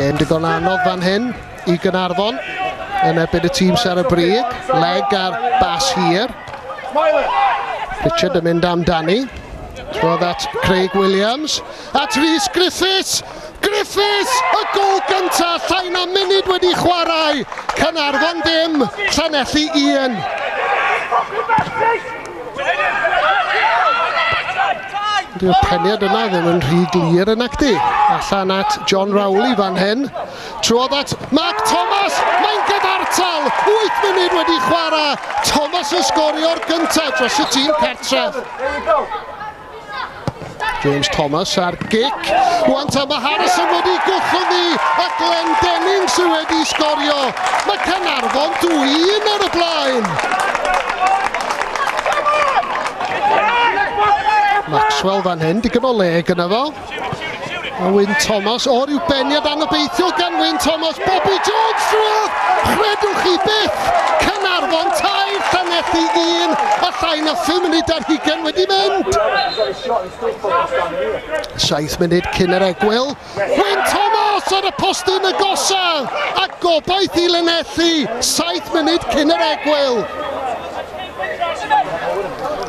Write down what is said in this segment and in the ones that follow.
Gêm digon anodd fan hyn i Gynarfon yn ebyn y tîm ser y brig. Leg ar bas hir. Richard yn mynd amdani. Roedd at Craig Williams. At Rhys Griffiths. Griffiths y gol gyntaf llai na munud wedi chwarae, Caernarfon ddim, Llanelli un. Dyw'r peniad yna ddim yn rhy glir yn acti. Allan at John Rowley fan hyn. Trwodd at Mark Thomas, mae'n gyfartal, 8 munud wedi chwarae, Thomas yn sgorio'r gyntaf dros y tîm cartref. James Thomas ar gic. Rwan ta mae Harrison wedi gwllwng ni a Glenn Denning sydd wedi sgorio. Mae Canarfon 2-1 ar y blaen. Maxwell fan hyn, digon o le gyda fo. A Wyn Thomas o'r i'w beniad anobeithiol gan Wyn Thomas, Bobby Jones drwodd! Chredwch chi byth! Cynarfon tair, Llanelli un, a llai na 5 munud ar hugen wedi mynd! Saith munud cyn yr egwyl, Wyn Thomas ar y postyn y gosa, a gobaith i Lanelli, saith munud cyn yr egwyl!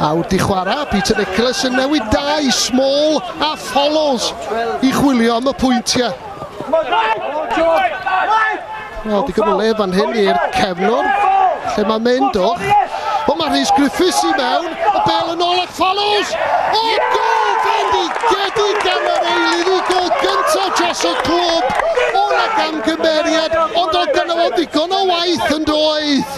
A wrth i chwarae, Peter Nicholas yn newid dau, Small a Follows i chwilio am y pwyntiau. Wel, di o le fan hyn i'r cefnwr, lle mae mynd o. O, mae Rhys Griffiths i mewn, y bel yn ôl at Follows. O, gol fendigedig gan yr eilydd i gol gyntaf dros y clwb. O'r ag amgymeriad, ond o gynnal o ddigon o waith yn doedd.